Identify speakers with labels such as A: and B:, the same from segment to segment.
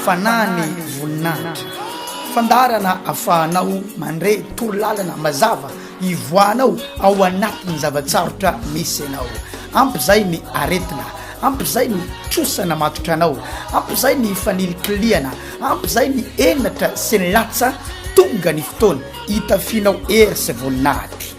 A: Fanahy ny voninahitra. Fandaharana afahanao mandre torolalana mazava ivoahanao ao anatin'ny zava-tsarotra misy anao. Ampy izay ny aretina, ampy izay ny trosa namatotra anao, ampy izay ny fanilikilihana, ampy izay ny henatra sy ny latsa, tonga ny fotoana hitafianao hery sy voninahitra.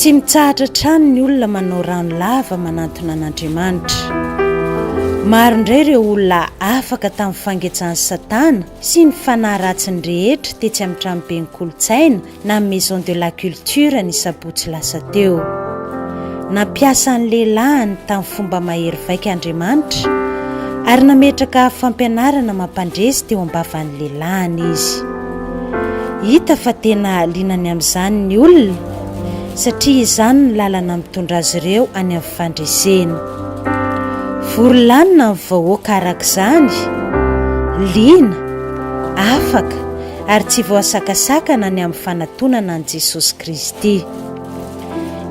B: Tsy mitsahatra hatrany ny olona manao rano lava manantona an'Andriamanitra. Maro indray ireo olona afaka tamin'ny fangetsan'i Satana sy ny fanahy ratsiny rehetra tetsy amin'ny tranoben'ny kolontsaina na Maison de la Culture ny sabotsy lasa teo. Nampiasa ny lehilahiny tamin'ny fomba mahery vaika Andriamanitra ary nametraka fampianarana mampandresy teo am-bavan'ny lehilahiny izy. Hita fa tena liana ny amin'izany ny olona satria izany no lalana mitondra azy ireo any amin'ny fandresena. Vory lanona ny vahoaka araka izany, liana, afaka ary tsy voasakasakana ny amin'ny fanatonana an'i Jesosy Kristy.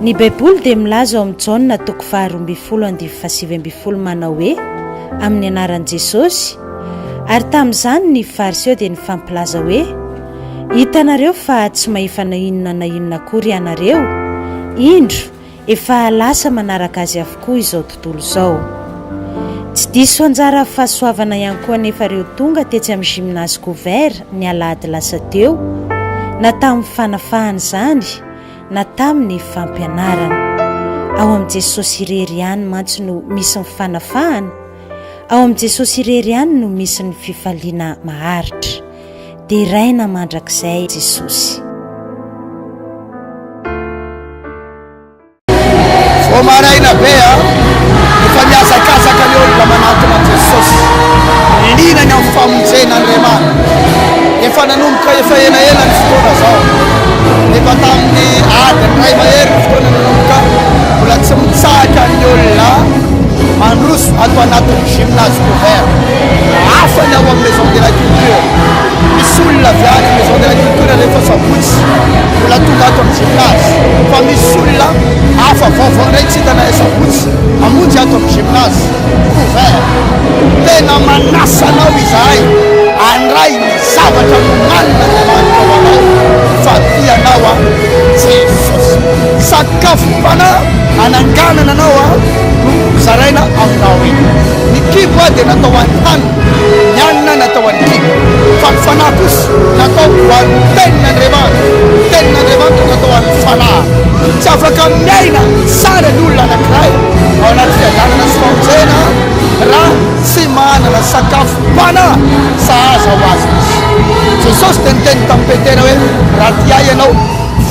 B: Ny Baiboly dia milaza ao amin'ny Jaona toko faharoa ambin'ny folo andivo fahasivy ambin'ny folo manao hoe, Amin'ny anaran'i Jesosy, Ary tamin'izany ny Fariseo dia nifampilaza hoe, Hitanareo fa tsy mahefa na inona na inona akory ianareo? Indro, efa lasa manaraka azy avokoa izao tontolo izao. Tsy diso anjara fahasoavana ihany koa anefa ireo tonga tetsy amin'ny Gymnase Couvert ny alahady lasa teo, na tamin'ny fanafahana izany, na tamin'ny fampianarana. Ao amin'i Jesosy irery ihany mantsy no misy ny fanafahana, Ao amin'i Jesosy irery ihany no misy ny fifaliana maharitra. Deraina mandrakizay Jesosy.
A: Vao maraina be a, efa mihazakazaka ny olona manantona an'i Jesosy, liana ny amin'ny famonjena Andriamanitra. Efa nanomboka efa elaela ny fotoana izao, efa tamin'ny adiny iray mahery ny fotoana nanomboka, mbola tsy mitsahatra ny olona. Mandroso ato anatin'ny gymnase couvert. Hafa ny ao amin'ny maison de la culture. Misy olona avy any amin'ny maison de la culture rehefa sabotsy mbola tonga ato amin'ny gymnase. Fa misy olona hafa vaovao indray tsy hita na sabotsy hamonjy ato amin'ny gymnase couvert. Tena manasa anao izahay handray ny zavatra nomanin'Andriamanitra ho anao fa tia anao aho Jesosy. Ka fombanà hananganana anao aho no hozaraina aminao eny. Ny kibo aho dia natao ho an'ny hanina, ny hanina natao ho an'ny kibo, fa ny fanahy kosa natao ho an'ny Tenin'Andriamanitra, ny Tenin'Andriamanitra natao ho an'ny fanahy. Tsy afaka miaina tsara ny olona anankiray ao anaty fiadanana sy famonjena raha tsy manana sakafom-panahy sahaza ho azy izy. Jesosy dia niteny tamin'i Petera hoe, Raha tia Ahy ianao,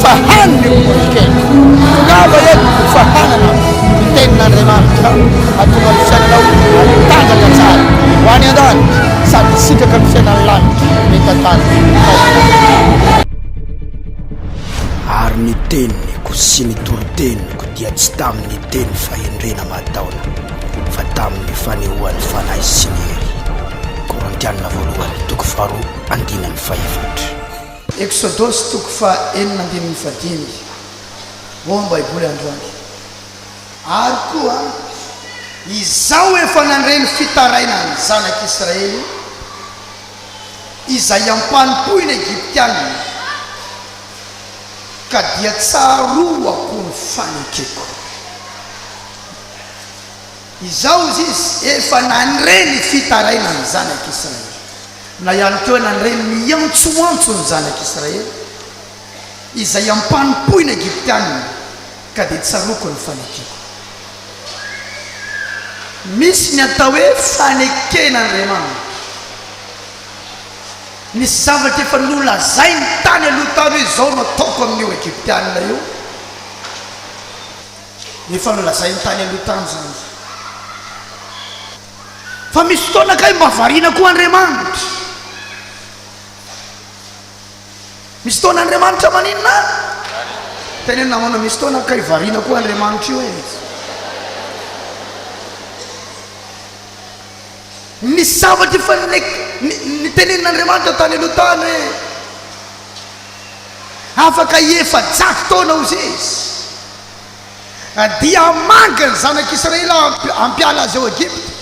A: Fa hany ny hovonkeny. Tongava eto fa hanana ny tenin'Andriamanitra hahatonga ny fiainanao hatanjaka tsara ho any an-danitra sady hisitraka ny fiainan'ny lanitra mitatary ny fahotan'Andriamanitra. Ary ny teniko sy ny toriteniko dia tsy tamin'ny teny fahendrena aman-taona fa tamin'ny fanehoan'ny Fanahy sy ny hery. Korintiana Voalohany toko faharoa andininy fahefatra. Eksodosy toko faha enina ambin'ny fahadimy ao amin'ny Baiboly androany. Ary koa izaho efa nandre ny fitarainan'ny Zanak'i Israely izay ampanompoina Egyptiana, ka dia tsaroako ny fanekeko. Izao hoy izy, Efa nandre ny fitaraina ny zanak'Israely, na ihany koa nandre ny miantsoantso ny zanak'Israely, izay ampanompoina Egyptiana, ka dia tsaroako ny fanekeko. Misy ny atao hoe faneken'Andriamanitra. Nisy zavatra efa nolazainy tany aloha tany hoe izao no ataoko amin'io Egyptiana io. Efa nolazainy tany aloha tany izany fa misy fotoana kay mba variana koa Andriamanitra. Misy fotoana Andriamanitra maninona? Teneno namana misy fotoana kay variana koa Andriamanitra io e. Ny zavatra efa nitenenin'Andriamanitra tany aloha tany hoe afaka efajato taona hozy izy. Dia hamangy ny Zanak'i Israela hampiala azy ao Egypta.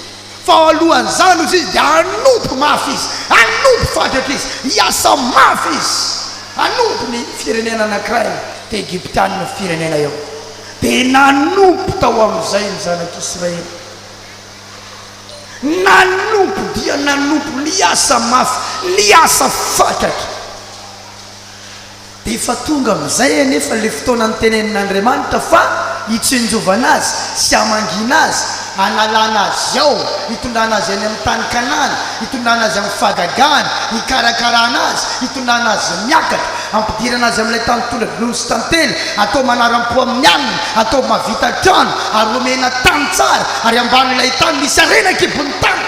A: Fa alohan'izany, hoy Izy, dia hanompo mafy izy, hanompo fatratra izy, hiasa mafy izy, hanompo ny firenena anankiray, dia Egyptiana io firenena io. Dia nanompo tao amin'izay ny Zanak'i Israela. Nanompo dia nanompo, niasa mafy, niasa fatratra. Dia efa tonga amin'izay anefa ilay fotoana nitenenin'Andriamanitra fa hitsinjovana azy sy hamangiana azy, hanalana azy ao, hitondrana azy any amin'ny tany Kanana, hitondrana azy amin'ny fahagagana, hikarakarana azy, hitondrana azy miakatra, hampidirana azy amin'ilay tany tondra dronono sy tantely, hatao manaram-po amin'ny alina, hatao mahavita trano, ary homena tany tsara, ary hambanin'ilay tany misy harena an-kibon'ny tany.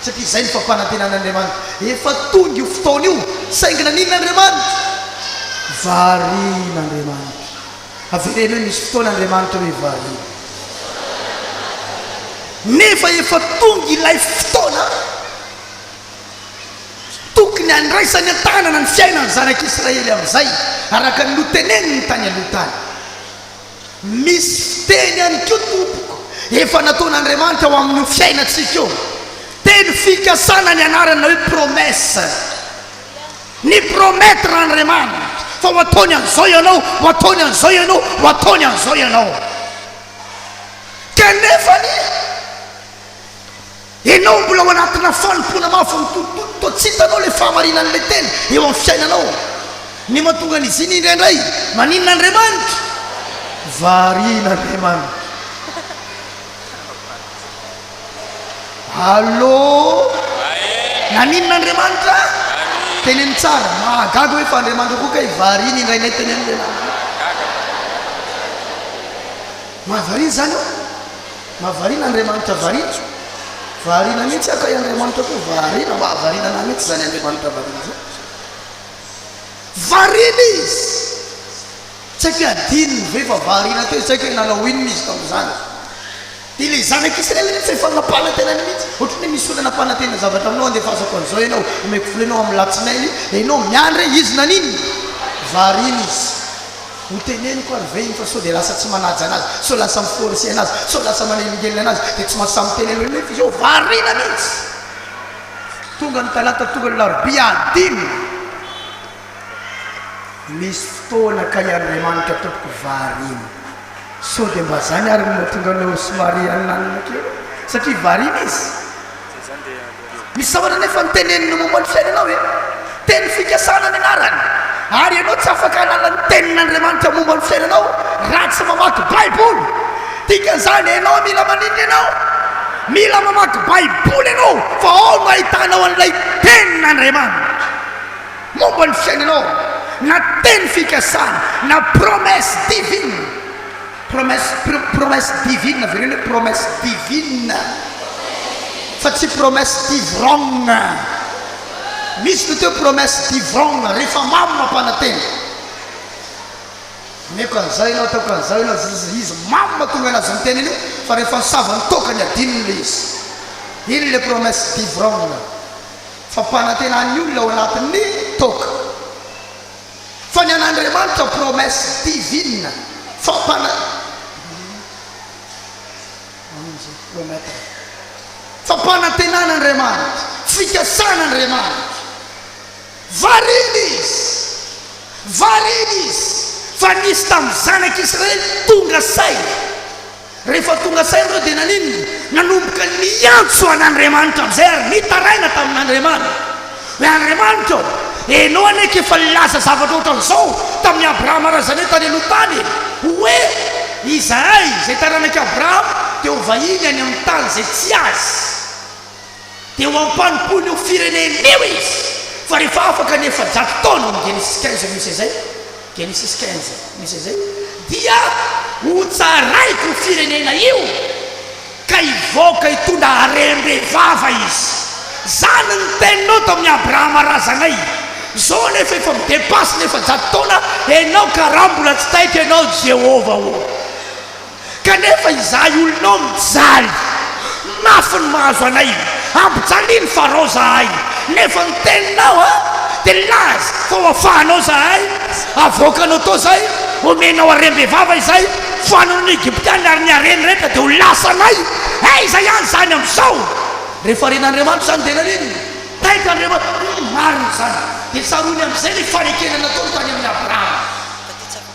A: Satria izay ny fampanantenan'Andriamanitra. Efa tonga io fotoana io, saingy naninona Andriamanitra? Varian'Andriamanitra. Avereno hoe misy fotoana Andriamanitra hoe variana. Nefa efa tonga ilay fotoana tokony handraisany an-tanana ny fiainan'ny zanak'Israely amin'izay, araka ny noteneniny tany aloha tany. Misy fiteny ihany koa tompoko efa nataon'Andriamanitra ho amin'io fiainantsika io. Teny fikasana ny anarany na hoe promesse. Ni promettre Andriamanitra fa ho ataony an'izao ianao, ho ataony an'izao ianao, ho ataony an'izao ianao. Kanefany. Enao mbola ao anatina fanompoana mafy mitotototo toa tsy hitanao ilay fahamarinan'ilay Teny eo amin'ny fiainanao. Ny mahatonga an'izy iny indraindray, maninona Andriamanitra? Variana Andriamanitra. Allô? Naninona Andriamanitra? Teneno tsara. Mahagaga hoe fa Andriamanitra koa kay variana indraindray teneno lehilahy. Mahavariana izany ô? Mahavariana Andriamanitra variana. Variana mihitsy aho kay Andriamanitra koa variana mba hahavariana anah mihitsy izany Andriamanitra variana izany. Variana izy. Tsy haiko hoe adinony ve fa variana teo izy, tsy haiko hoe nanao inona izy tamin'izany. Dia ilay zanaka Israely mihitsy efa nampanantenany mihitsy, ohatran'ny hoe misy olona nampanantena zavatra aminao andefasako an'izao ianao, omeko vola ianao amin'ny latsinainy, dia ianao miandry hoe izy naninona? Variana izy. Ho teneniko ary ve iny fa sao dia lasa tsy manaja anazy, sao lasa mi-forcer anazy, sao lasa manelingelina anazy dia tsy mahazo samy miteny aloha nefa izao variana mihitsy. Tonga ny talata tonga ny larobia adino. Misy fotoana kay Andriamanitra tompoko variana. Sao dia mba zany ary no mahatonga anao somary ananina kely satria variana izy. Misy zavatra anefa noteneniny momba ny fiainanao e! Teny fikasana ny anarany. Ary ianao tsy afaka hanala ny Tenin'Andriamanitra momba ny fiainanao raha tsy mamaky Baiboly. Dikan'izany, ianao mila maninona ianao? Mila mamaky Baiboly ianao fa ao no ahitanao an'ilay Tenin'Andriamanitra momba ny fiainanao, na teny fikasana, na promesse divine. Promesse pro promesse divine avereno hoe promesse divine fa tsy promesse divrogna misy ny atao hoe promesse divrogna rehefa mamo mampanantena omeko an'izao ianao ataoko an'izao ianao izy izy izy mamo mahatonga anazy miteny an'io fa rehefa misava ny toaka ny adinony le izy iny ilay promesse divrogna fa mpanantena ny olona ao anatin'ny toaka Fa ny an'Andriamanitra promesse divine fampana fampanantenana Andriamanitra fikasana Andriamanitra variana izy variana izy fa nisy tamin'ny zanak'israely tonga saina Rehefa tonga saina ireo dia naninona? Nanomboka niantso an'Andriamanitra amin'izay ary nitaraina tamin'Andriamanitra hoe, Andriamanitra ô, Ianao anie ka efa nilaza zavatra ohatran'izao tamin'i Abrahama razanay tany aloha tany e, hoe, Izahay, izay taranak'i Abrahama, dia ho vahiny any amin'ny tany izay tsy azy. Dia ho ampanompoin' io firenen' io izy, fa rehefa afaka ny efajato taona, ny Genesis quinze misy izay, Genesis quinze misy izay, dia hotsaraiko io firenena io, ka hivoaka hitondra harem-be vava izy. Izany ny teninao tamin' i Abrahama razanay. Izao anefa efa mi-depasse ny efajato taona ianao, ka raha mbola tsy taitra ianao, Jehovah ô, Kanefa izahay olonao mijaly. Mafy ny mahazo anay. Ampijaliny Farao izahay. Nefa ny teninao a, dia laza fa ho afahanao izahay. Avoakanao tao izay, omenao harem-bevava izay, fanon'ny Egyptiana, ary ny hareny rehetra dia ho lasanay. Aiza ihany izany amin'izao? Rehefa ren'Andriamanitra izany, dia nanino? Taitra Andriamanitra. Marina izany. Dia tsaroany amin'izay ny fanekena nataony tany amin'i Abrahama.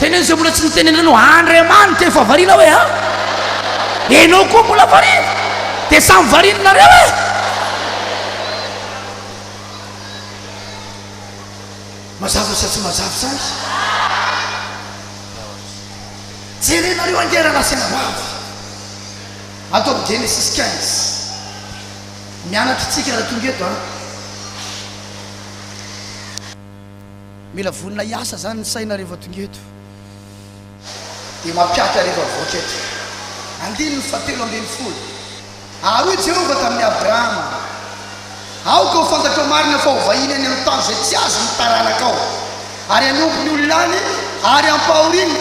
A: Teneno izay mbola tsy notenenanao Andriamanitra efa variana hoe a! Enao koa mbola variana Dia samy variana nareo e! Mazava sa tsy mazava izany? Jerenareo ange rahalahy sy anabavy ato amin'ny Genesis quinze. Mianatra isika raha tonga eto an! Mila vonona hiasa zany ny saina rehefa tonga eto dia mampihatra rehefa mivoaka eto. Andininy fahatelo ambin'ny folo. Ary hoy Jehovah tamin'i Abrahama, Aoka ho fantatrao marina fa ho vahiny any amin'ny tany izay tsy azo ny taranakao, ary hanompo ny olona any, ary ampahoriny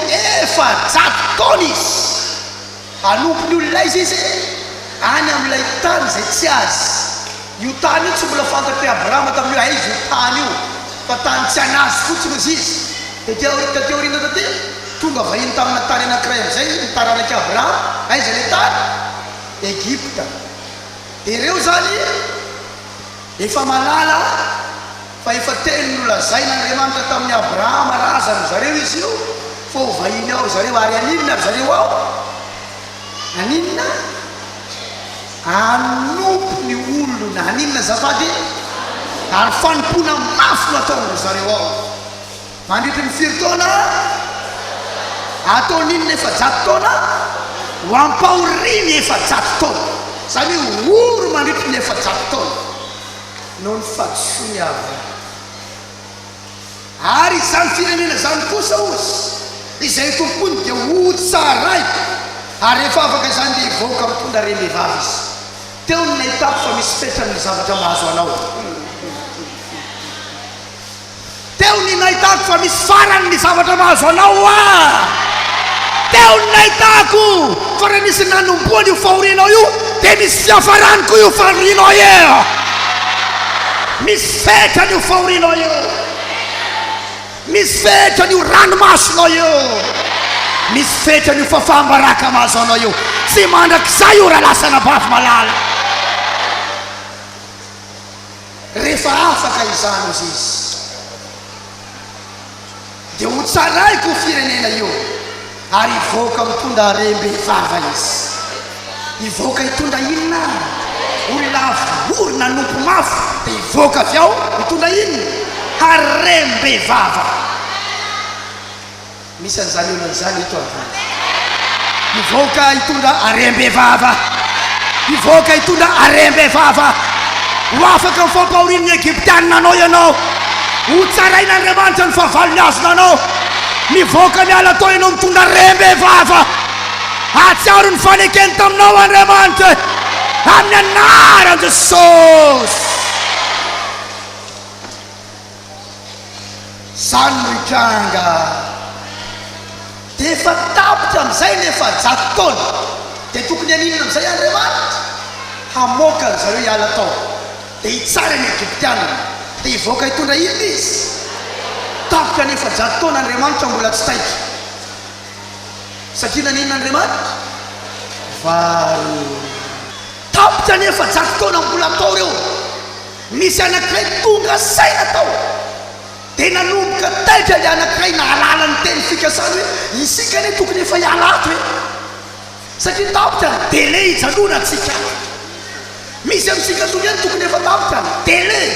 A: efajato taona izy. Hanompo ny olona aiza izy? Any amin'ilay tany izay tsy azy. Io tany io tsy mbola fantatr'i Abrahama tamin'io hoe aiza io tany io, fa tany tsy an'azy fotsiny hozy izy. Taty aoriana, taty aoriana taty, tonga vahiny tamina tany anankiray amin'izay ny taranak'i Abrahama. Aiza ilay tany? Egypta. Dia ireo izany. Efa mahalala fa efa teny nolazain' Andriamanitra tamin' i Abrahama razan' zareo izy io fa ho vahiny ao ry zareo, ary haninona ry zareo ao? Haninona? Hanompo ny olona. Haninona azafady? Ary fanompoana mafy no ataon-dry zareo ao. Mandritry ny firy taona? Ataon' inona efajato taona? Ho ampahoria ny efajato taona. Izany hoe ory mandritry ny efajato taona noho ny fahadisoan' i Abrahama. Ary izany firenena izany kosa, hozy, izay tompoiny dia hotsaraiko, ary rehefa afaka izany dia hivoaka mitondra rem-behivavy izy. Teo no nahitako fa misy fetra amin' ny zavatra mahazo anao. Teo ny nahitako fa misy farany ny zavatra mahazo anao hoa! Teo ny nahitako fa raha misy nanombohany io fahorianao io dia misy fiafarany koa io fahorianao io! Misy fetrany io fahorianao io! Misy fetrany io ranomasonao io! Misy fetrany io fafaham-baraka mahazo anao io! Tsy mandrakizay io raha lasa anabavy malala! Rehefa afaka izany hozy izy, dia hotsaraiko io firenena io, ary hivoaka mitondra harem-behivava izy. Hivoaka hitondra inona any? Olona avo ory nanompo mafy dia hivoaka avy ao hitondra inona? Harem-behivava. Misy an'izany olona izany eto androany. Hivoaka hitondra harem-bevava. Hivoaka hitondra harem-bevava. Ho afaka amin'ny fampahorian'ny Egyptianina anao ianao. Ho tsarain'Andriamanitra ny fahavalony azona anao. Mivoaka miala tao ianao mitondra harem-bevava. Hahatsiaro ny fanekeny taminao Andriamanitra amin'ny anaran'i Jesosy. Zany no hitranga dia efa tapitra amizay ny efajato taona dia tokony haninona amizay Andriamanitra? Hamoaka an zareo hiala tao dia hitsara ny Egyptianina dia hivoaka hitondra inona izy? Tapitra ny efajato taona Andriamanitra mbola tsy taitra satria naninona Andriamanitra? Vary. Tapitra ny efajato taona mbola atao reo Nisy anankiray tonga saina tao dia nanomboka taitra ilay anankiray nahalala ny teny fikasany hoe, isika anie tokony efa hiala ato e! satria tapitra ny délai hijanonantsika any. Misy amintsika tonga eny tokony efa tapitra ny délai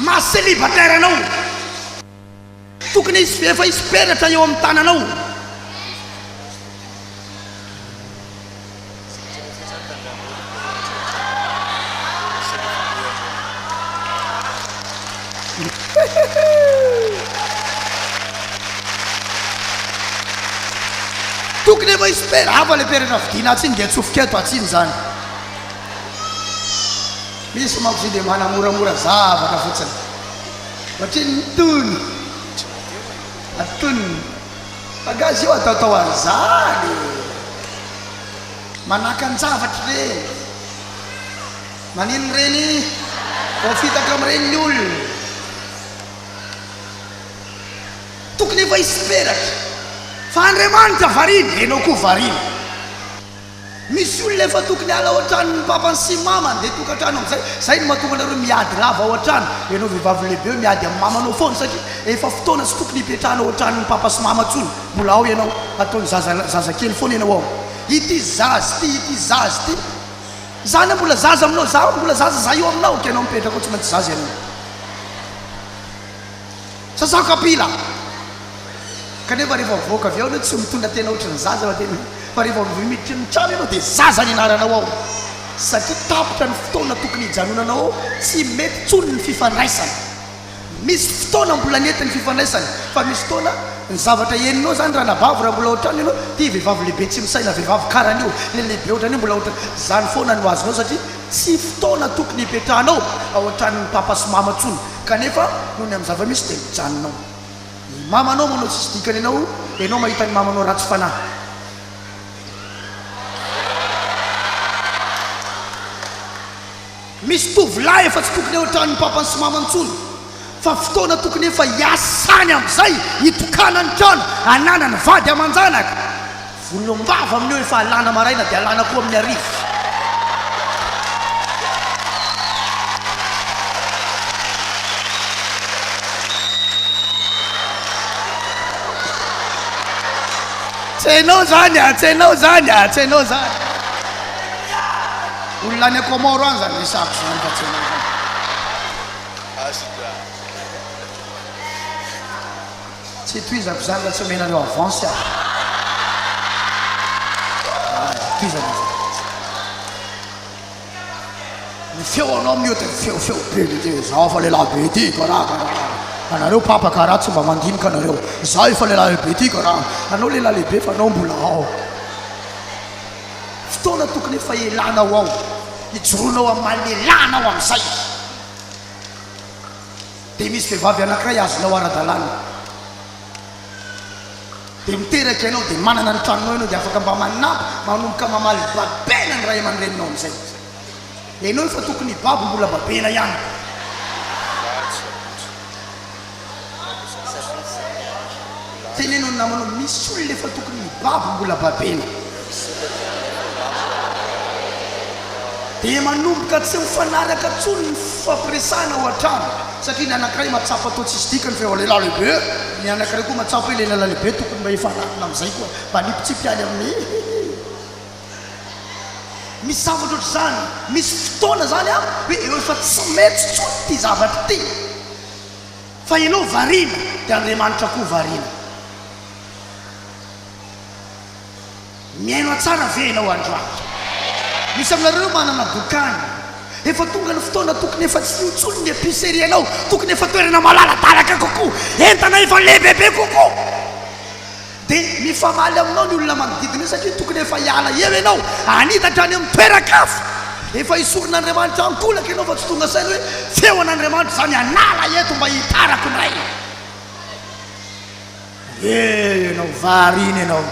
A: maha célibataire anao. Tokony hisy efa hisy peratra eo amin'ny tananao. Tokony efa hisy per, hafa le peratra vidiana atsy iny dia atsofoka eto atsy iny zany. Misy manko izy io dia manamoramora zavatra fotsiny. Ohatrin ny tony ary tony fa nga zio ataotao anzany e! Manaka anjavatr reny maninn reny vao fitaka am reny ny olona e! Tokony efa hisy peratra fa Andriamanitra variana enao koa variana. Misy olona efa tokony hiala ao an-tranony ny papany sy ny mamany dia tokantrano amin'izay, izay no mahatonga anareo miady lava ao an-trano, ianao vehivavy lehibe hoe miady amin'ny mamanao foana satria efa fotoana tsy tokony hipetrahanao ao an-tranon'ny papa sy mama intsony, mbola ao ianao, ataon'ny zaza zaza kely foana ianao ao. Ity zaza ity, ity zaza ity, izaho anie mbola zaza aminao, izaho mbola zaza izaho io aminao, ka ianao mipetraka ao tsy maintsy zaza ianao. Sasao kapila! Kanefa rehefa mivoaka avy ao enao tsy mitondra tena ohatry ny zaza fa tena fa rehefa vao miditra ny trano enao dia zaza ny anaranao ao satria tapitra ny fotoana tokony hijanonanao ao tsy mety tsony ny fifandraisana misy fotoana mbola nety ny fifandraisana fa misy fotoana ny zavatra henonao zany ranabavy raha mbola ao an-trano enao ty vehivavy lehibe tsy misaina vehivavy karan'io le lehibe ohatran'io mbola ohatran zany foana no azonao satria tsy fotoana tokony hipetrahanao ao an-tranon'ny papa sy mama tsony Kanefa noho ny amin'ny zava-misy dia mijanona ao. Ny mamanao manao tsisy dikany anao, ianao mahita ny mamanao ratsy fanahy. Misy tovolahy efa tsy tokony eo an-tranon'ny papany sy mamany intsony, fa fotoana tokony efa hiasany amin'izay, hitokana ny trano, hananany vady aman-janaka. Vonona am-bava amin'io efa alàna maraina dia alàna koa amin'ny hariva. Tsy hainao izany a! Tsy hainao izany a! Tsy hainao izany. Olona any Comores any izany resahakoz izany fa tsy hainao izany. Tsy tohizako izany raha tsy omenareo avance aho. Aah, tohizana izany. Ny feonao amin'ny ody ny feo feo be mity. Izaho efa lehilahy be ity karaha karaha. Anareo papa karaha tsy mba mandinika anareo. Izaho efa lehilahy be ity karaha. Anao lehilahy lehibe fa anao mbola ao. Fotoana tokony efa elanao ao. Ijoroanao amin'ny maha lehilahy anao amin'izay. Dia misy vehivavy anankiray azonao ara-dalàna, dia miteraka ianao, dia manana ny tranonao ianao, dia afaka mba manampy, manomboka mamaly babena ny ray aman-dreninao amin'izay. Ianao efa tokony hibabo mbola babena ihany. Teneno ny namanao misy olona efa tokony hibabo mbola babena dia manomboka tsy mifanaraka tsony ny fifampiresahana ao an-trano satria ny anankiray mahatsapa toa tsisy dikany fa efa lehilahy lehibe ny anankiray koa mahatsapa hoe lehilahy lehibe tokony mba efa ananona amin'izay koa mba hanipitsipy any amin'ny Misy zavatra ohatr'izany, misy fotoana izany an hoe eo efa tsy mety tsony ity zavatra ity. Fa ianao variana dia Andriamanitra koa variana. Mihaino ahy tsara ve ianao androany? Misy aminareo manana bokany. Efa tonga ny fotoana tokony efa tsy io intsony ny epicerie anao, tokony efa toerana malaladalaka kokoa, entana efa lehibebe kokoa. Dia mifamaly aminao ny olona manodidina eo satria tokony efa hiala eo ianao, hanitatra any amin'ny toeran-kafa. Efa esorin'Andriamanitra an-kolaka ianao fa tsy tonga saina hoe, Feon'Andriamanitra izany hanala eto mba hitarako ny raiko. Dia ianao variana ianao,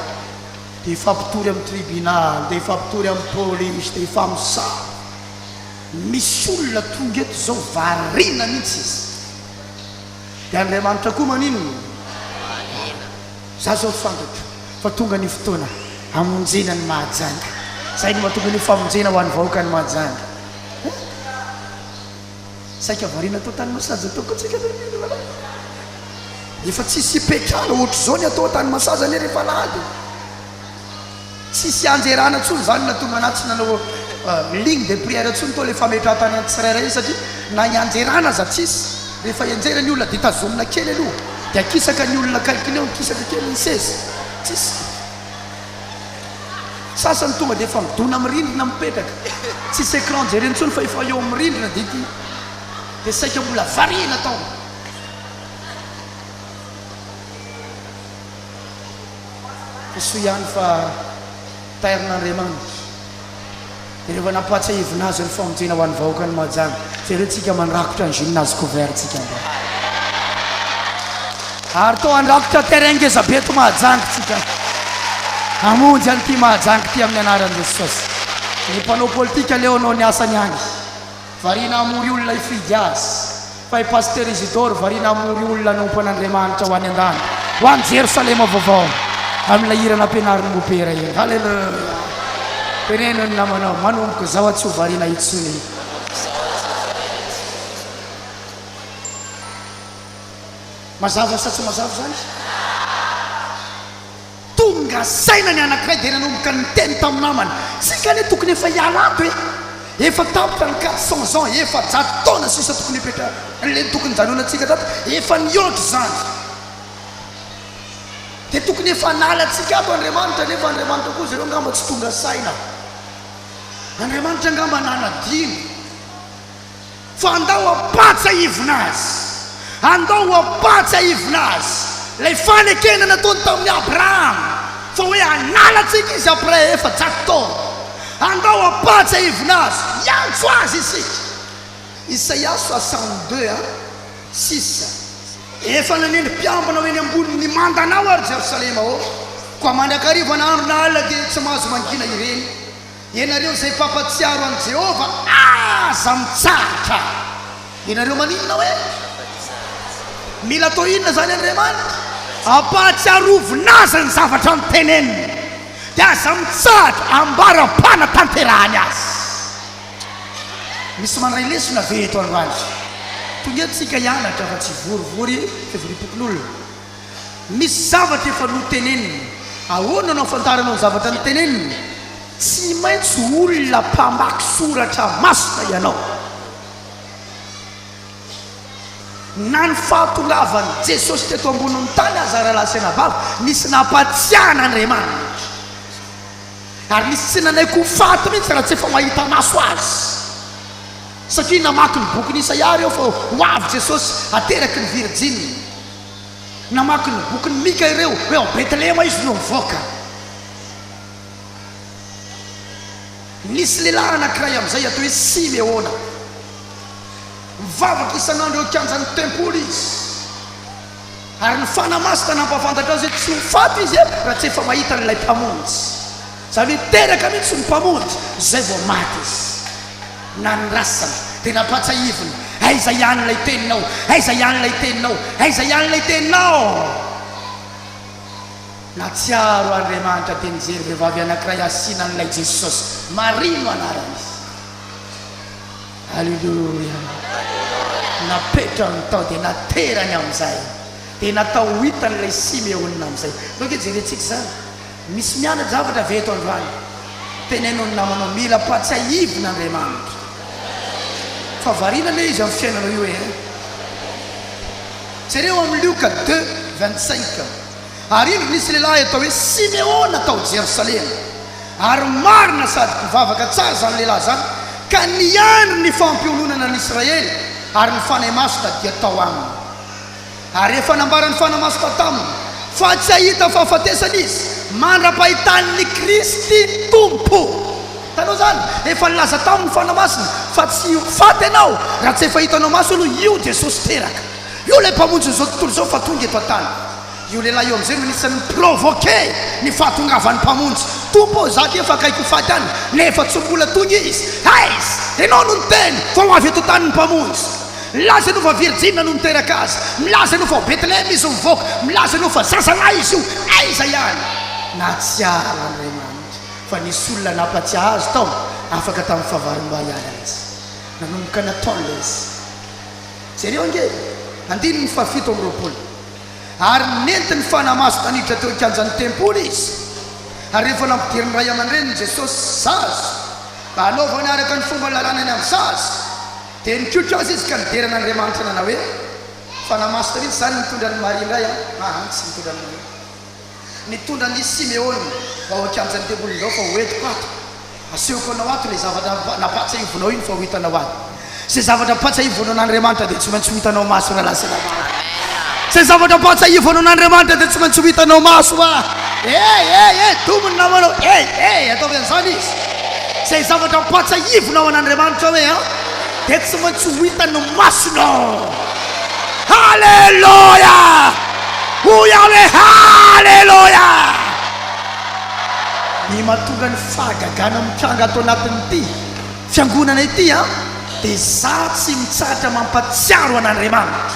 A: dia hifampitory amin'ny tribunal, dia hifampitory amin'ny polisy, dia hifamosavy. Misy olona tonga eto izao variana mihitsy izy. Dia Andriamanitra koa maninona? Mahaliana. Za zao fantatro fa tonga ny fotoana hamonjena an'i Mahajanga. Zay no mahatonga an'io famonjena ho an'ny vahoakan'i Mahajanga. He! Saika variana atao tany Masaza tao koa tsika zany ry vahady. Efa tsisy hipetrahana ohatr'izao ny atao tany Masaza anie rehefa alahady e. Tsisy ianjerana tsony zany na tomanà tsy nanao ligne de prière tsony tao le fametrahantanan'ny tsirairay iny satria na ianjerana aza tsisy rehefa ianjera ny olona de tazomina kely aloha de akisaka ny olona akaikiny eo mikisaka kely ny seza tsisy sasany tonga de efa midona am rindrina mipetraka tsisy écran jereny tsony fa efa eo am rindrina de ity de saika mbola variana tao. Tsy soa ihany fa tairin'Andriamanitra dia rehefa nampahatsiahivina azy ny famonjena ho an'ny vahoakan'i Mahajanga. Jereo tsika mandrakotra ny gymnase couvert tsika androany. Ary toa handrakotra terrain ngezabe eto Mahajanga tsika. Hamonjy an'ity Mahajanga ity amin'ny anaran'i Jesosy. Ny mpanao politika leo anao ny asany any. Variana hamory olona hifidy azy. Fa i Pasitera Isidore variana hamory olona hanompo an'Andriamanitra ho any an-danitra, ho any Jerosalema Vaovao, amin'ilay hira nampianarin'i Mopera iny. Haleloia! Teneno ny namanao, manomboka izao aho tsy ho variana intsony. Mazava sa tsy mazava izany? Tonga saina ny anankiray dia nanomboka niteny tamin'ny namany, tsika anie tokony efa hiala ato e! Efa tapitra ny quatre cents ans, efajato taona sisa tokony hipetraka, le tokony hijanonantsika tato efa nihoatra izany, dia tokony efa hanala antsika ato Andriamanitra, nefa Andriamanitra koa zareo angamba tsy tonga saina, Andriamanitra angamba nanadino. Fa andao ampatsahivina azy, andao ampatsahivina azy ilay fanekena nataony tamin'i Abrahama fa hoe hanala antsika izy après efajato taona. Andao ampatsahivina azy, hiantso azy isika. Isaia soixante deux a six, Efa nanendry mpiambina ho eny ambony ny mandanao, ry Jerosalema ô, koa mandrakariva na andro na alina dia tsy mahazo mangina ireny. Ianareo izay mpampatsiaro an'i Jehovah, aza mitsahatra! Ianareo maninona hoe mila atao inona izany Andriamanitra? Ampahatsiarovina azy ny zavatra noteneniny, dia aza mitsahatra ambara-panatanterahany azy. Misy mandray lesona ve eto androany? Tonga eto isika hianatra fa tsy hivorivory fivoriam-pokonolona. Misy zavatra efa notenenina. Ahoana no ahafantaranao ny zavatra notenenina? Tsy maintsy olona mpamaky soratra masina ianao. Na ny fahatongavan'i Jesosy teto ambonin'ny tany aza, rahalahy sy anabavy, nisy nampahatsiahy an'Andriamanitra. Ary nisy tsy nanaiky ho faty mihitsy raha tsy efa mahita maso Azy. Satria namaky ny bokin'i Isaia ireo fa ho avy Jesosy ateraky ny virjiny. Namaky ny bokin'i Mika ireo, hoe ao Betlehema izy no mivoaka. Nisy lehilahy anankiray amin'izay atao hoe Simeona. Mivavaka isan'andro eo an-kianjan'ny tempoly izy, ary ny fanahy masina nampahafantatra azy hoe tsy ho faty izy raha tsy efa mahita an'ilay Mpamonjy. Izany hoe teraka mihitsy ny Mpamonjy, izay vao maty izy. Nandrasana. Dia nampatsahivina. Aiza ihany ilay Teninao? Aiza ihany ilay Teninao? Aiza ihany ilay Teninao? Nahatsiaro Andriamanitra dia nijery vehivavy anankiray asiana an'ilay Jesosy. Maria no anaran'izy. Aleloia! Napetrany tao dia naterany amin'izay. Dia natao ho hitan'ilay Simeona amin'izay. Toa ange jerentsika izany. Misy miana-javatra ve eto androany? Teneno ny namanao mila ampatsiahivina Andriamanitra fa variana anie izy amin'ny fiainanao io ee. Jereo amin'ny Lioka deux vingt cinq, Ary indro nisy lehilahy atao hoe Simeona tao Jerosalema, ary marina sady mpivavaka tsara izany lehilahy izany, ka niandry ny fampiononana an'Israely, ary ny Fanahy Masina dia tao aminy. Ary efa nambaran'ny fanahy masina taminy fa tsy hahita ny fahafatesana izy mandra-pahitany ny Kristy Tompo. Hitanao izany? Efa nilaza taminy ny fanahy masina fa tsy ho faty ianao raha tsy efa hitanao maso aloha io Jesosy teraka io, ilay Mpamonjin'izao tontolo izao fa tonga eto an-tany. Io lehilahy io amin'izay no anisan'ny ni-provoquer ny fahatongavan'ny Mpamonjy. Tompo ô, izaho aty efa akaiky ho faty any nefa tsy mbola tonga Izy. Aiza? Ianao no niteny fa ho avy eto an-tany ny Mpamonjy. Milaza ianao fa virjina no niteraka azy, milaza ianao fa ao Betlehem izy nivoaka, milaza ianao fa zazalahy izy io, aiza ihany? Nahatsiaro an'Andriamanitra fa nisy olona nampatsiahy azy tao afaka tamin'ny fahavalombary alina izy. Nanomboka nataony ilay izy. Jereo ange andininy fahafito amby roapolo, Ary nentiny fanamaso naniditra teo an-kianjan'ny tempoly izy, ary rehefa nampidirin'ny ray aman-dreniny Jesosy zaza mba hanaovany araka ny fomba ny lalàna ny amin'ny zaza, Dia nikoiko azy izy ka nidera an'Andriamanitra nanao hoe, Fanahy Masina mihitsy izany nitondra an'i Maria indray an! Aa tsy nitondra an'i Maria. Nitondra an'i Simeona mba ho an-kianjan'ny tempoliny izao fa ho entiko ato. Asehoko anao ato ilay zavatra nampahatsiahivinao iny fa ho hitanao ato. Izay zavatra ampahatsiahivinao an'Andriamanitra dia tsy maintsy ho hitanao maso rahalahy sy rahavav. Izay zavatra ampahatsiahivinao an'Andriamanitra dia tsy maintsy ho hitanao maso. Aa eh eh eh domo ny namanao. Ey eh ataovy an'izany izy. Izay zavatra ampahatsiahivinao an'Andriamanitra hoe an, dia tsy maintsy ho hitan'ny masonao. Haleloia! Hoy aho hoe haleloia! Ny mahatonga ny fahagagana mitranga ato anatin'ity fiangonana ity an, dia izaho tsy mitsahatra mampatsiaro an'Andriamanitra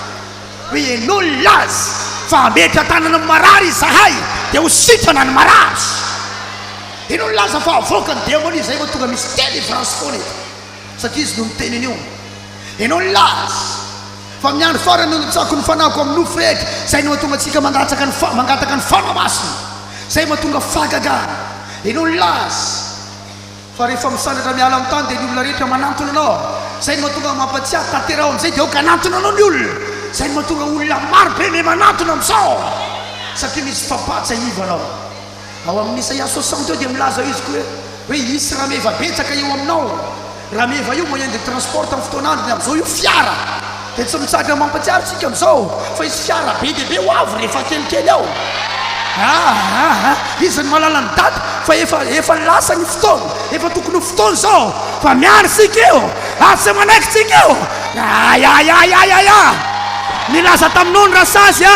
A: hoe ianao nilaza fa hametra-tanana amin'ny marary izahay dia ho sitrana ny marary. Ino no laza fa avoaka ny demonia zay vao tonga misy delivrance foana eto satria izy no miteny an'io Enao ny laza fa amin'ny andro farany no natsako ny fanahiko amin'ny nofo rehetra zay no hatonga antsika mangatsaka ny fa mangataka ny fanahy masina zay vao tonga fahagagana Enao ny laza fa rehefa misandratra miala amin'ny tany dia ny olona rehetra manantona anao zay no mahatonga mampatsiahy tanteraho amin'izay dia aoka hanantona anao ny olona zay no mahatonga olona maro be me manantona amin'izao satria misy fampahatsiahivanao Ao amin'ny Isaia soixante eo dia milaza izy koa hoe hisy rameva betsaka eo aminao. Rameva io moyen de transport tamin'ny fotoana androny, amin'izao io fiara. Dia tsy mitsahatra mampatsiaro isika amin'izao fa hisy fiara be dia be ho avy rehefa kelikely ao. Aa iza no mahalala ny daty fa efa efa lasa ny fotoana, efa tokony ho fotoana izao fa miandry isika io ary tsy manaiky isika io. Ayayayayaya! Nilaza taminao ny rasazy a!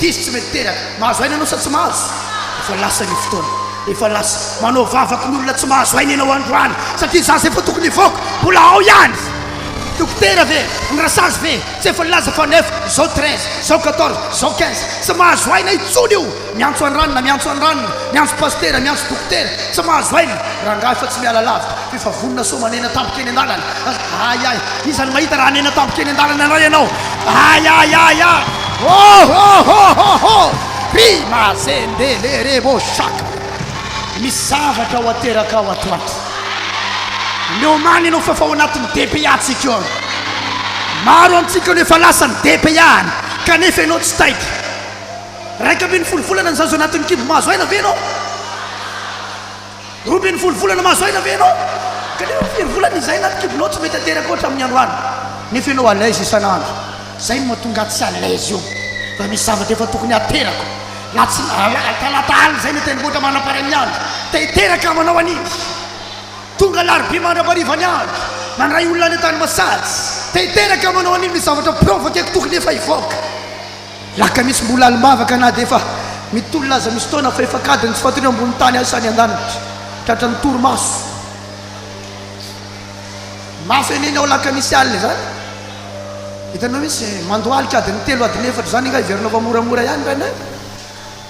A: Diso tsy mety teraka. Mahazo aina ianao sa tsy mahazo? Efa lasa ny fotoana. Efa lasa. Manao vavaka ny olona tsy mahazo aina ianao androany satria za izay vao tokony hivoaka. Mbola ao ihany. Dokotera ve? Ny rasazy ve? Tsy efa nilaza fa neuf, zao treize, zao quatorze, zao quinze. Tsy mahazo aina intsony io. Miantso an'i Ranona, miantso an'i Ranona. Miantso Pasitera, miantso Dokotera. Tsy mahazo aina. Rangahy fa tsy miala lavitra. Efa vonona sao manena tampoka eny an-dalana. Ay ay! Iza no mahita raha hanena tampoka eny an-dalana indray ianao? Ay ay ay ay! Oh oh oh oh oh! Prima zendelerebo shaka! Misy zavatra ho aterakao atoandro. Miomàna ianao fa efa ao anatin'ny DPA-tsika io. Maro amintsika no efa lasa ny DPA-ny kanefa ianao tsy taitra. Iraika ambin'ny folo volana no zaza anatin'ny kibo mahazo aina ve ianao? Roa ambin'ny folo volana mahazo aina ve ianao? Telo amby firy volana izy izay na kibolao tsy mety ateraka ohatra amin'ny andro alina nefa ianao à l'aise isan'andro? Izay no mahatonga ahy tsy à l'aise io. Raha misy zavatra efa tokony haterako na tsy alahady talata alina izay ny tendrombohitra manam-paharay ny andro dia hiteraka amanao an'iny. Tonga alarobia mandra-pahariva ny andro mandray olona any an-tany masahady dia hiteraka amanao an'iny ny zavatra provokeko tokony efa hivoaka. Lakamisy mbola alim-bavaka na dia efa mitolona aza misy taona fa efa kady ny tsy fatoriana ambony tany asa any an-danitra. Tratra ny torimaso. Mafy anie ny ao Lakamisy alina izany. Hitanao mihitsy mandohalika adin'ny telo adin'ny efatra izany nga hiverina fa moramora ihany rainay.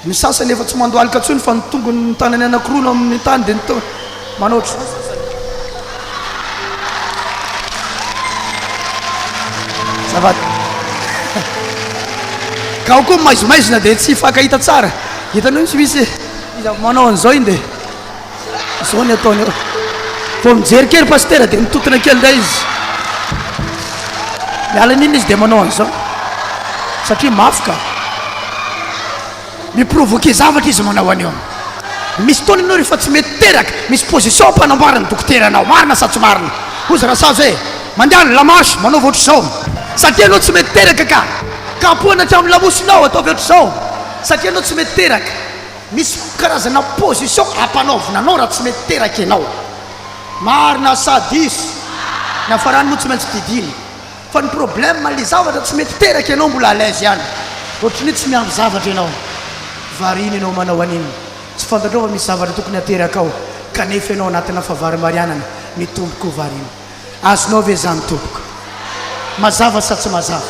A: Ny sasany efa tsy mandohalika intsony fa ny tongony ny tanany anankiroa no amin' ny tany dia ny tongony manao ohatr' izany sasany. Azafady. Ka ao koa ny maizimaizina dia tsy hifankahita tsara. Hitanao io tsy misy iza manao an'izao iny dia. Izao ny ataony eo. Vao mijery kely pasitera dia mitontona kely indray izy. Miala an'iny izy dia manao an'izao. Satria mafy ka. Miprovoquer zavatra izy manao an'io. Misy fotoana ianao rehefa tsy mety teraka, misy position ampanamboarana ny dokotera anao. Marina sa tsy marina? Hozy Rasazy hoe, mandehana la marche, manaova ohatr'izao. Satria ianao tsy mety teraka ka. Kapohana hatramin'ny lamosinao, ataovy ohatr'izao. Satria ianao tsy mety teraka. Misy karazana position ampanaovina anao raha tsy mety teraka ianao. Marina sa diso? Ny hafarany moa tsy maintsy didiana. Fa ny problème ilay zavatra tsy mety teraka ianao mbola à l'aise ihany. Ohatry ny hoe tsy miandry zavatra ianao. Variana ianao manao an'iny. Tsy fantatrao fa misy zavatra tokony hateraka ao kanefa ianao anatina fahavarimbarianana. Mitombo koa variana. Azonao ve zany tompoko? Mazava sa tsy mazava?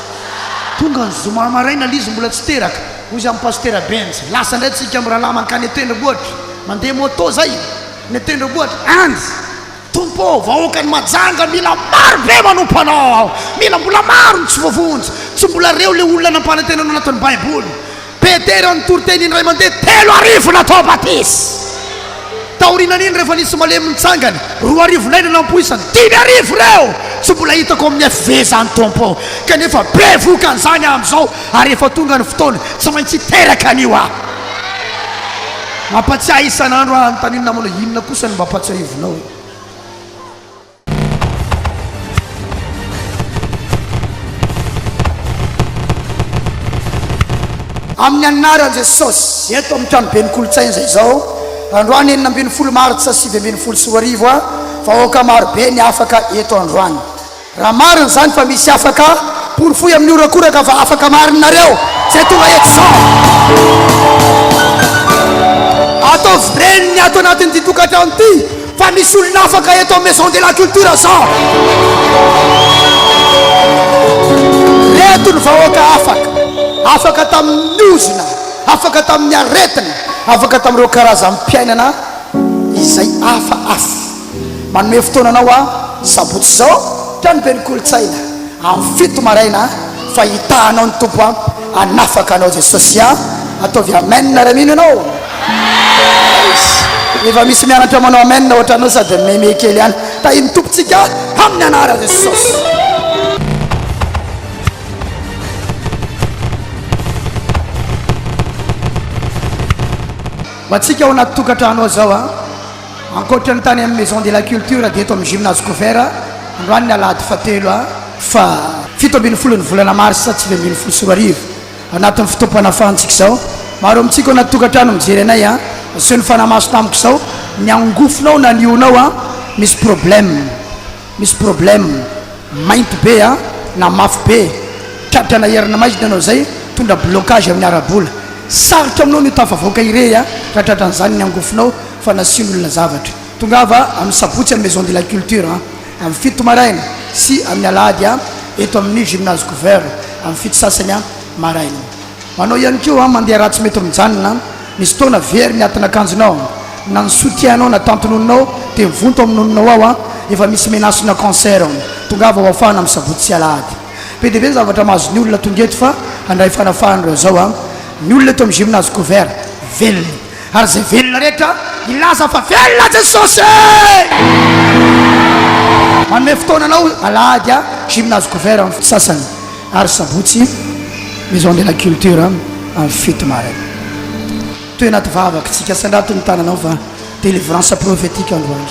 A: Tonga ny zoma maraina l'izy mbola tsy teraka, hoy izy amin'i Pasitera Benjy, lasa indray tsika amin'ny rahalahy mankany an-tendrombohitra, mandeha moto zay, ny an-tendrombohitra any. Tompo ô, vahoakan'i Mahajanga mila maro be manompo Anao, mila mbola maro ny tsy voavonjy, tsy mbola reo le olona nampanantenanao anatin'ny baiboly. Petera nitory teny indray mandeha telo arivo natao batisa. Taorian'iny rehefa nisy malemy nitsangany, roa arivo indray no nampoisany. Dimy arivo ireo tsy mbola hitako amin'ny FV izany Tompo o! Kanefa be vokany izany amin'izao ary efa tonga ny fotoana, tsy maintsy hiteraka an'io aho. Mampatsiahy isan'andro aho anontaniana manao inona kosa no mba ampatsiahivinao? Amin'ny anaran'i Jesosy, eto amin'ny tranoben'ny kolontsaina izay izao, androany enina ambin'ny folo martsa sivy ambin'ny folo sy roa arivo, vahoaka maro be ny afaka eto androany. Raha marina izany fa misy afaka, porofoy amin'ny horakoraka fa afaka marina nareo izay tonga eto izao. Ataovy reny ny ato anatin'ity tokantrano ity. Fa misy olona afaka eto amin'ny Maison de la Culture sao? Reto ny vahoaka afaka, afaka tamin'ny ozona, afaka tamin'ny aretina, afaka tamin'ireo karazam-piainana izay hafa hafa. Manome fotoana anao aho sabotsy izao, tranoben'ny kolontsaina, amin'ny fito maraina, fa hitahanao ny Tompo ampy. Hanafaka anao Jesosy a! Ataovy Amen raha mino ianao. Praise. Efa misy mianatra manao Amen ohatranao sady meme kely ihany. Tahin'ny Tompontsika amin'ny anaran'i Jesosy. Ho antsika ao anaty tokantrano ao zao a. Ankoatra ny tany amin'ny Maison de la Culture dia eto amin'ny Gymnase Couvert androany ny alahady fahatelo faha fito ambin'ny folo ny volana marsa sivy ambin'ny folo sy roa arivo. Anatin'ny fotoam-panafahantsika izao, maro amintsika ao anaty tokantrano mijery anay an! Aseho ny fanahy maso tamiko izao ny angofonao na ny hohonao an! Misy problème. Misy problème, mainty be a, na mafy be, tratra na herina maizina ianao izay, mitondra blocage amin'ny ara-bola. Sarotra aminao ny ho tafavoaka irery a, raha tratran'izany ny angofonao fa nasian'olona zavatra. Tongava amin'ny sabotsy amin'ny Maison de la Culture a, amin'ny fito maraina, sy amin'ny alahady a, eto amin'ny Gymnase Couvert, amin'ny fito sasany maraina. Anao ihany koa an, mandeha ratsy mety mijanona an, misy fotoana very ny atin'akanjonao an, na ny soutien anao na tantin'oninao dia mivonto amin'oninao ao an, efa misy menace na cancer an, tongava ho afahana amin'ny sabotsy sy alahady. Be dia be ny zavatra mahazo ny olona tonga eto fa handray fanafahana ireo zao an, ny olona eto amin'ny gymnase couvert velona e. Ary izay velona rehetra hilaza fa velona Jesosy e! Manome fotoana anao alahady a gymnase couvert amin'ny sasany ary sabotsy maison de la culture amin'ny fito maraina. Toe anaty vavakitsika sandrato ny tananao fa délivrance prophétique androany.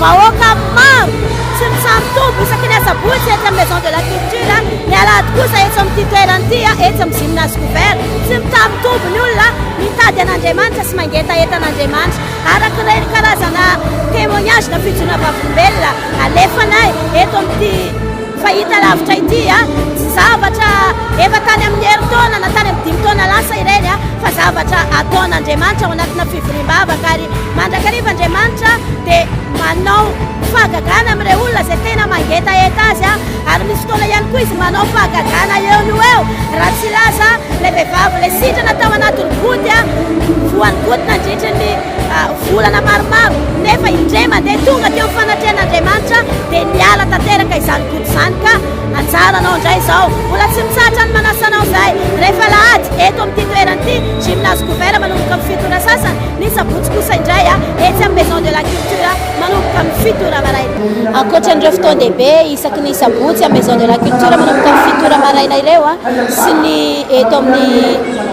C: Vahoaka maro sy ny samy tompo isaky ny asabotsy etsy amin'ny Maison de la Culture, ny alahady kosa eto amin'ity toerana ity etsy amin'ny Gymnase Couvert. Tsy mitsaha-mitombo ny olona mitady an'Andriamanitra sy mangetaheta an'Andriamanitra. Araka ireny karazana témoignage na fijoroana vavolombelona alefanay eto amin'ity. Fahita lavitra ity zavatra efa tany amin'ny herintaona na tany amin'ny dimy taona lasa ireny fa zavatra ataon'Andriamanitra ao anatina fivoriam-bavaka ary mandrakariva Andriamanitra dia manao fahagagana amin'ireo olona izay tena mangetaheta azy ary misy fotoana ihany koa izy manao fahagagana eo no eo raha tsy laza ilay vehivavy ilay sitrana tao anatin'ny goty voan'ny goty nandritra ny Volana maromaro, nefa indray mandeha tonga teo fanatrehan'Andriamanitra dia niala tanteraka izany gout izany ka anjaranao indray izao. Mbola tsy mitsahatra ny manasa anao izahay rehefa alahady eto amin'ity toerana ity, gymnase couvert manomboka amin'ny fito ora sasany, ny sabotsy kosa indray etsy amin'ny maison de la culture manomboka amin'ny fito ora maraina. Ankoatra an'ireo fotoan-dehibe isaky ny sabotsy amin'ny maison de la culture manomboka amin'ny fito ora maraina ireo sy ny eto amin'ny.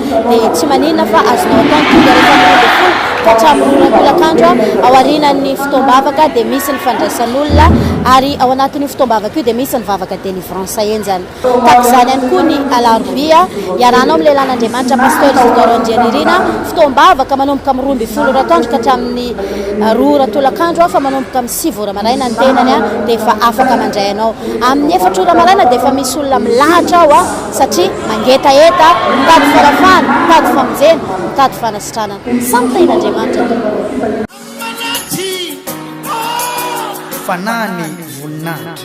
C: dia tsy maninona fa azonao atao ny tonga rehefa amin'ny roa ambin'ny folo ka hatramin'ny roa roapolak'andro ao aorianan'ny fotoam-bavaka dia misy ny fandraisan'olona ary ao anatin'io fotoam-bavaka io dia misy ny vavaka délivrance henjana tahaka izany ihany koa ny alarobia iarahanao amin'ny lehilahin'Andriamanitra Pasteur Isidore Randrianirina fotoam-bavaka manomboka amin'ny roa ambin'ny folo ora atoandro ka hatramin'ny roa ora tolak'andro fa manomboka amin'ny sivy ora maraina ny tenany dia efa afaka mandray anao amin'ny efatra ora maraina dia efa misy olona milahatra ao satria mangetaheta, mitady fahefana, mitady famonjena, mitady fanasitranana. Samy tahin'Andriamanitra tokoa.
A: Fanahy ny voninahitra.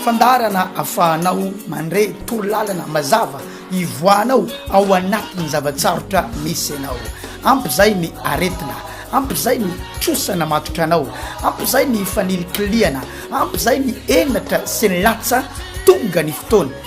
A: Fandaharana afahanao mandre toro lalana mazava hivoahanao ao anatin'ny zava-tsarotra misy anao. Ampy izay ny aretina, ampy izay ny trosa namatotra anao, ampy izay ny fanilikilihana, ampy izay ny henatra sy ny latsa, tonga ny fotoana.